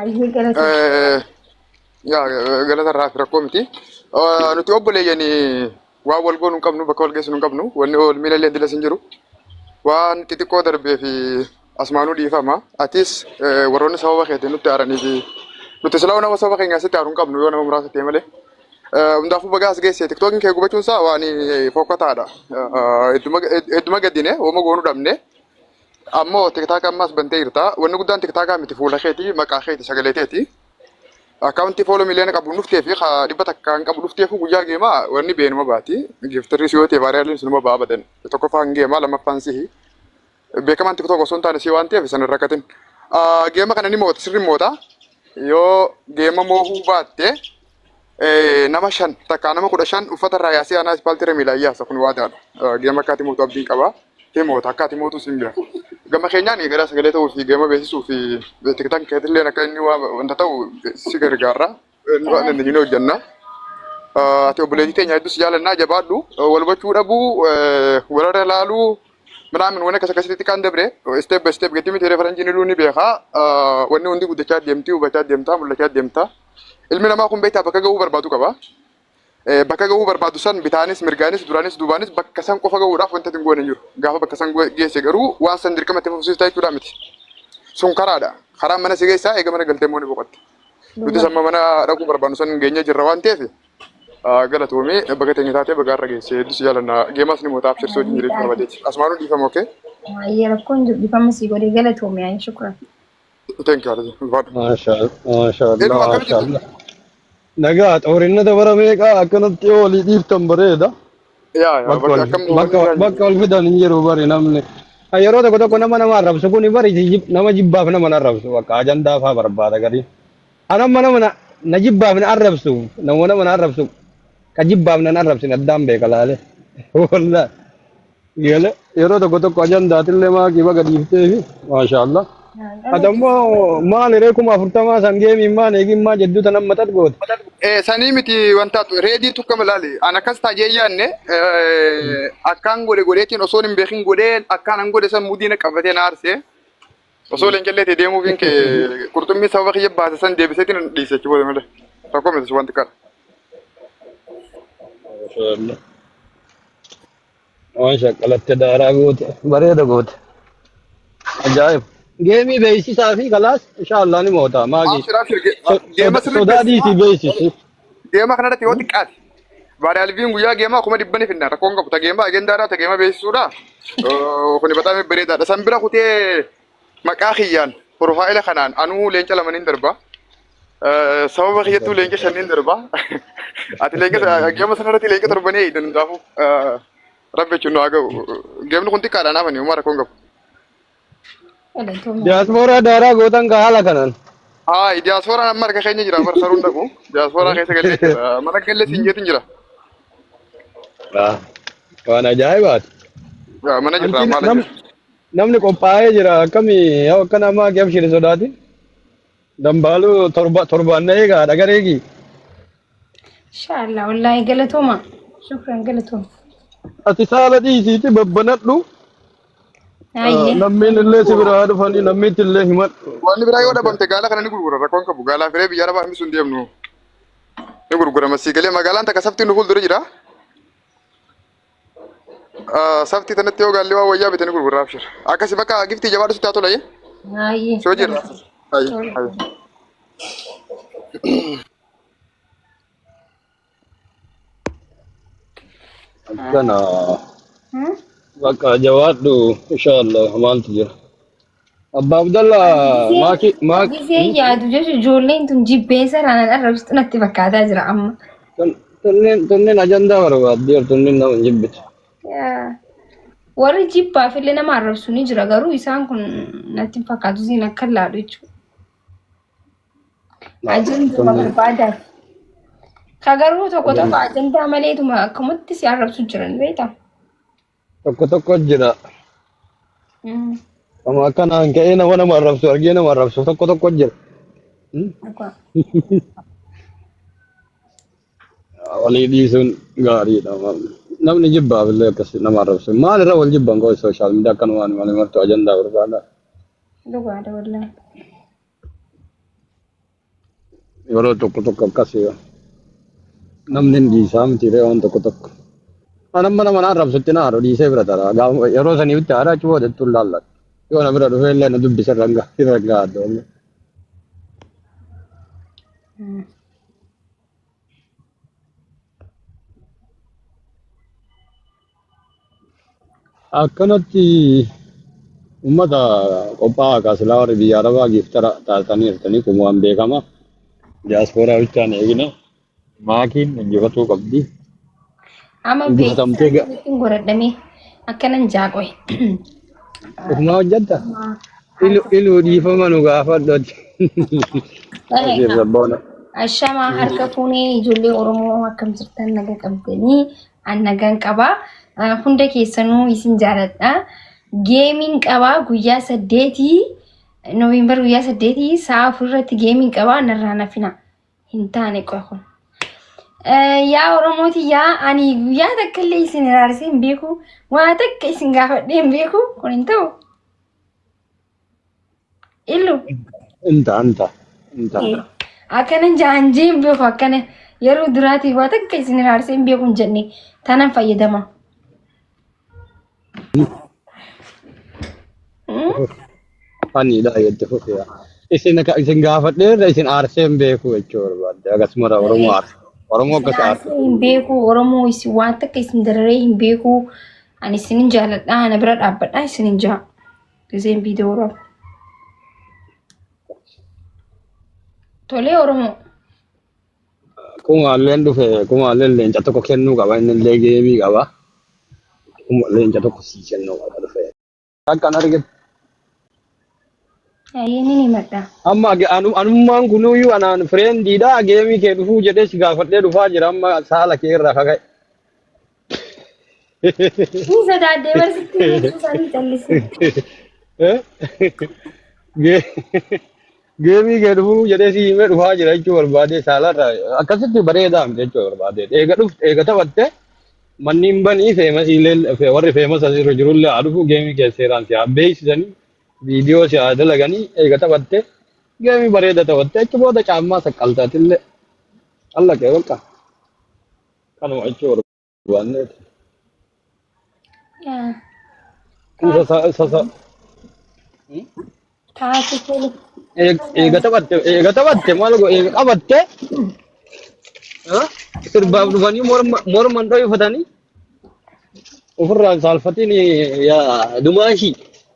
Ayyee galata. Eh, yaa eh, galata irraa fi rakkoo miti. Eh, Nuti obboleeyyan waan wal goonu hin qabnu bakka wal geessinu hin qabnu wanni wal miila illee dilas hin jiru. Waan xixiqqoo darbee fi asmaanuu dhiifama. Atis eh, warroonni sababa keetiin nutti aaranii fi nuti silaa nama sababa keenyaa sitti aaru hin qabnu yoo nama muraasa ta'e malee. Eh, Hundaafuu bagaa as geesse tiktookiin kee gubachuun isaa waan eh, fokkataadha. Eh, eh, Hedduma hedduma gaddine wama goonu dhabne. Ammoo tiktaaka ammaas bantee jirta. Wanni guddaan tiktaakaa miti fuula keeti, maqaa keeti, sagalee teeti. Akkaawuntii fooloo miliyoona qabu hin dhuftee fi ka dhibba takka hin qabu dhufteefuu guyyaa geemaa wanni beenuma baati. Giiftirris yoo ta'e vaayiraaliin sunuma ba'a abadan. Tokkoffaa hin geemaa lammaffaan sihi. Beekamaan tiktook osoo hin taane sii waan ta'eef sana hin rakkatin. Ah, Geema kana ni moota sirri moota. Yoo geema moohuu baatte nama shan takkaa nama kudha shan uffata irraa yaasee anaa ispaaltii irra miilaan yaasa kun waadaadha. Gama akkaati mootu abdiin qaba. Himoota akkaati mootu sin bira. Gama keenyaan gara sagalee ta'uu fi gama beeksisuu fi tiktan keetillee akka inni wanta ta'u si gargaarra. Waan inni ni hojjanna. Ati obboleettii teenya hedduu si jaalannaa jabaadhu. Wal hubachuu dhabuu, walirra laaluu, midhaan waan akkas akkasitti xiqqaan dabre step by step gatii miti reefaranjiin iluu ni beekaa. Wanni hundi guddachaa deemti, hubachaa deemta, mul'achaa deemta. Ilmi namaa kun beektaa bakka gahuu barbaadu qaba. Bakka gahuu barbaadu san bitaanis mirgaanis duraanis duubaanis bakka san qofa gahuudhaaf wanta hin goone hin jiru. Gaafa bakka san geesse garuu waan san dirqama itti fufsiiftaa jechuudha miti. Sun karaadha. Karaan mana si geessaa eega mana galtee immoo ni boqotta. Nuti samma mana dhaquu barbaannu san geenyee jirra waan ta'eef galatoomii baga teenya taatee baga har'a geesse hedduu si jaalannaa geemaas ni mootaa abshirsoo wajjin jireenya barbaadeeti. Asumaanuu dhiifama okee. Baay'ee rakkoon jiru dhifama sii godhee galatoomi ayi shukran. Thank you, Alhaji. Ulfaadhu. Maashaa maashaa Allah Hedduu akkam maashaa jirtu? Allah. Nagaa xoorinna dabara meeqaa akkanatti yoo walii dhiiftan bareeda. Yaa yaa Bakka bakka wal akkam bakka hubanni irraa bakka jiru. wal fidan hin jiru bari namni. Kan Yeroo tokko tokko nama nama arrabsu kun bari jib- nama jibbaaf nama na arrabsu bakka ajandaa fa'aa barbaada gadi. Kan amma nama na na jibbaaf na arrabsu nama nama na arrabsu ka jibbaaf na na arrabsin addaan beeka laale. Wallah. Yele yeroo tokko tokko ajandaatillee maaqii baga dhiifteefi maashaallah. Ati ammoo maal hiree kuma afurtamaa san geemiin maan eegin maa jedduu tan amma xat goote. Eh, sanii miti wanta reedii tukka malaali an akkas taajee yaanne eh, akkaan godhe godheetiin osoo hin beekin godhee akkaan an godhe san mudiina qabatee na aarse osoo leencallee ta'e deemuufiin kee qurxummii sababa kiyya baase san deebiseetiin hin dhiise achi booda malee tokko miti wanti kana. Maashaallah. Waan shaqqalatte daaraa goote bareeda goote ajaa'iba. Geemii beeksisaa fi kalaas inshaallah ni moota maagi Abshir abshir ge- so- geema soda- sirrii sodaa beeksisa. dhiisii beeksisi. Geema kana irratti yoo xiqqaate. Baada alviin guyyaa geemaa kuma dhibba ni finna rakkoon qabu. Ta geema agendaa irraa ta geema beeksisuudha. Kuni bataamee bareedaadha. San bira kutee Maqaa kiyyaan piroofaayila kanaan anuu leenca lama nin darba. Eh, Sababa kiyyattuu leenca shan nin darba. Ati leenca gama sanarratti leenca torbanii eegdan hundaafuu eh, rabbi jechuun nu haa ga'u. Gemni kun xiqqaadha naafani uumaa rakkoon qabu. Galatooma. Diaspora daaraa gootan kaa haala kanaan. Haa diyaasfooraan amma harka keenya jira bara saruun dhabu. Diyaasfooraa keessa galee jira. Mana galee siin jeetiin jira. Ah, Waan ajaa'ibaati. Yaa, Mana jirra Anti maala nam jira. Namni qophaa'ee jira akkami yoo akkana ammaa kee abshiri sodaati. Dambaaluu torba torbaan na eegaa dhagareegi. Inshaallah wallaahi galatooma. Shukran galatooma. Ati saala dhiisiiti babbanadhu. Ah, Ayyee. Lammiin illee si biraa dhufanii lammiitti illee himadhu. Wanni biraa yoo dhabamte gaala kana ni gurgura rakkoon qabu gaalaa firee biyya arabaa hambisuun deemnu ni gurgurama sii galee magaalaan takka saftiin nu fuuldura jira Ah, Saftii tanatti yoo gaalli waan wayyaa bitanii gurgurraa abshir. Akkasi bakka giftii jabaadhu sitti haa tola jee. Ayi. Si hojii irraa. Ayi. Ayi. Kana Hmm? bakka jawaadhu inshallah maaltu jira. Abba Abdalla Ani gisee maaki maak gisee hmm? yaadu jechuun ijoolleen tun jibbeessa raanaan arrabsitu natti fakkaataa jira amma. Tun- tunneen tunneen ajandaa barbaaddi bar tunneen nama hin jibbitu. Yaa, Warri jibbaaf illee nama arrabsu ni jira garuu isaan kun natti hin fakkaatu isiin akka laadhu jechuudha. Laa Ajanduma tunneen barbaadan. Ka garuu tokko tokko ajandaa ajandaa maleetuma akkamatti si arrabsu jiran beektaa? Tokko tokko jira. Mm. Amma akka naan ka'ee nama nama arrabsu argee nama arrabsu tokko tokko jira. Hmm? Dhugaa. Walii dhiisuun gaariidha. Namni jibbaaf illee akkasi nama arrabsu. Maal irra wal jibban koo sooshaal miidiyaa akkanumaan malee martuu ajandaa barbaada. Dhugaadha wallaahi. Yeroo tokko tokko akkas namni hin dhiisaa miti ree waan tokko tokko. Mana mana mana arrabsutti na haadhu dhiisee bira tara. Gaafa- Yeroo sanii bitti haadha achi booda ittiin laalla. Yoo na bira dhufee illee na dubbisa irra hin ga'a. Irra hin ga'a doomne. Akkanatti uummata qophaa'aa kaa silaa warri biyya Arabaa giftara taatanii jirtanii kun waan beekama. Diyaaspooraa bichaan eegina. Maakiin injifatuu qabdi. Amma Injifatamtee beeksisa ga- ittiin godhadhamee akkanan jaaqoe. ofumaa hojjetta. Ilu ilu dhiifama nu gaafadhu ati. Ashiir sabboona. Ashamaa harka fuunee ijoollee Oromoo akkam jirtan naga qabdanii an nagaan qabaa. Ah, Hunda keessanuu isin jaaladha. Geemiin qabaa guyyaa saddeetii Noovembar guyyaa saddeetii sa'a afur irratti geemiin qabaa narraa nafina hin taane qofa kun. Eh, Yaa Oromooti yaa ani guyyaa takka illee isin iraarsee hin beeku. Waa takka isin gaafadhee hin beeku kun hin ta'u. Illu. Inta anta inta. Akkana jaan jeen beeku akkana yeroo duraatii waa takka isin hiraarsee hin beeku hin jenne tanan fayyadama. Ani dha yadda fufeera. Isin akka isin gaafadhe irra isin aarsee hin beeku jechuu barbaadde akkasuma irra Oromoo aarsa. Oromoo akkas aarsa. Hiraarsee hin beeku Oromoo isin waan takka isin dararee hin beeku ani isin hin jaaladha ana bira dhaabbadha isin hin jaa. Gizeen viidiyoo Oromoo. Tolee Oromoo. Kumaalleen dhufe kumaalleen leenca tokko kennuu qaba inni illee geemii qaba. Kuma leenca tokko sii kennuu qaba dhufe. Akkan arge Ayyee ni himadha. amma ge- anu- anummaan kunuyyuu anaan fireendiidha geemii kee dhufuu jedhee si gaafadhee dhufaa jira amma saala kee irraa kaka'e. Ni sodaadde barsitti jechuu isaanii callise. Geemii kee dhufuu jedhee si himee dhufaa jira jechuu barbaadee saalarra akkasitti bareedaa miti jechuu barbaadee eega dhufte eega taphatte manni hin banii feemasiilee warri feemasa irra jirullee haa dhufu geemii kee seeraan si haa beeksisanii viidiyoo si haa dalaganii eega taphatte geemii bareeda taphatte achi booda caammaa saqqaltaatillee allaqee bakka. Kanuma jechuu barbaanne Yaa, isa Taatu sa- isa sa- Hmm? taatu tole. eeg- eega taphatte eega taphatte maal go eega qabatte ha? sirbaaf dhufanii morma morman dho'ifatanii ofirraa hin saalfatiin yaa dumaashii.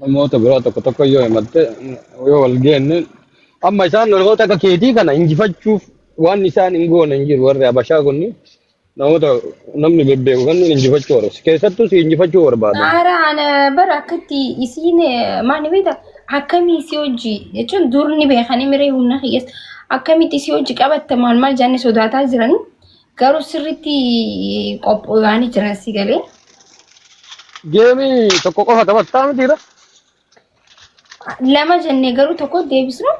namoota biraa tokko tokko yoo himatte yoo wal geenne amma isaan namoota akka keetii kana injifachuuf waan isaan hin goone hin jiru warri abashaa kunni namoota namni bebbeeku kan injifachuu barbaadu keessattuu si injifachuu barbaadan Haara ana bara akkatti isiin eh, maal beekta akkamii si hojji jechuun dur ni beekanii miree humna kiyyeessa akkamitti si hojji qabatta maal maal jaanni sodaataa jiranii Garuu sirriitti qophaa'anii jiran si galee. Geemii tokko qofa taphattaa mitiira. Lama jennee garuu tokko deebisnu.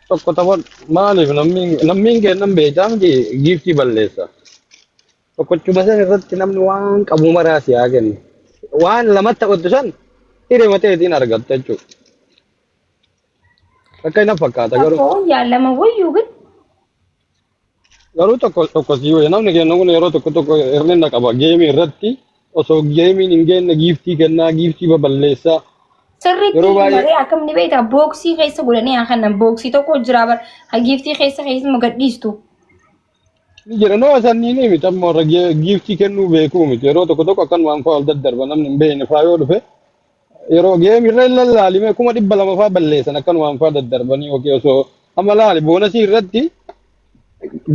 Tokko taphat maaliif namni namni hin kennan beekaa miti giiftii balleessa. Tokkochuma san irratti namni waan qabu maraa si haa kennu. Waan lamatti taphattu san hiree mateetiin argatta jechuudha. Akka hin fakkaata garuu. Tokko yaa lama wayyuu gid. Garuu tokko tokko sii wayya namni keenya kun yeroo tokko tokko hir'ina qaba geemii irratti osoo geemiin hin geenne giiftii kennaa giiftii baballeessaa Sirriitti yeroo baay'ee maree akkam ni beektaa booksii keessa godhanii haa kennan booksii tokko jira bar ha giiftii keessa keessuma gadhiistu. ni jira nama sanniin miti amma warra ge- giiftii kennuu beekuu miti yeroo tokko tokko akkanumaan fa'aa ol daddarba namni hin beekne fa'aa yoo dhufe yeroo geemi irra hin lallaalimee kuma dhibba lama faa balleessan akkanumaan faa daddarbanii yookiin osoo amma laali boonasii irratti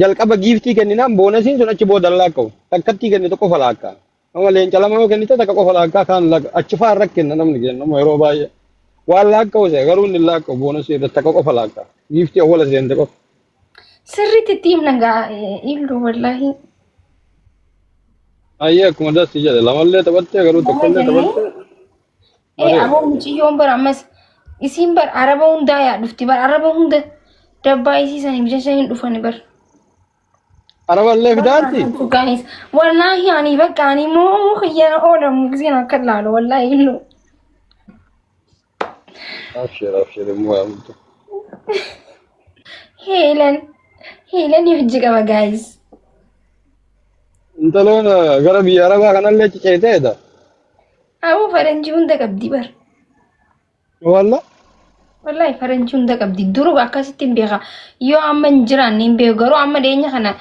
jalqaba giiftii kenninaan boonasiin sun achi booda laakka'u takkattii kennite qofa laakkaa amma leenca lama yoo kennite takka qofa laakkaa kaan laakka achi faa irra kenna namni kenna amma yeroo baay'ee waan laakka'u se'a garuu inni laakka'u boonasii irratti takka qofa laakkaa giiftii awwala seente qofa. Sirriitti itti himna gaa illu wallaahi. Ayyee akkuma dassi jedhe lamallee taphattee garuu Nama tokkollee jennee taphattee ee bareeda. aboo mucayyoon bara ammas isiin bara araba hundaa yaa dhufti bara araba hunda dabbaa isii saniif jecha hin dhufani bara. Araballee fidaatti Gaanis wallaahi ani bakka ani immoo kiyyana oolamu giseen akka ilaalu wallaahi illu. Abshir abshir hin mo'amtu. Heelan. Heelan hojji qaba gaayis. Intaloon eh, gara biyya arabaa kanallee ciceeteedha. Aboo faranjii hunda qabdi bar. Walla Wallahi faranjii hunda qabdi. Duruu akkasitti hin beeka. Yoo amma hin jiraanne hin beeku. Garuu amma dhiyeenya kana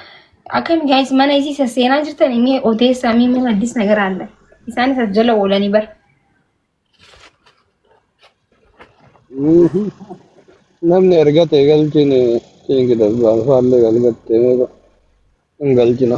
akkami gaayis mana isii sasseenaa jirtan mee odeessaa mee mana addis nagaraallee. Isaanis as jala oolanii bar. Mhm. Namni erga ta'e galchine kingdom waan faallee galgattee hin galchina.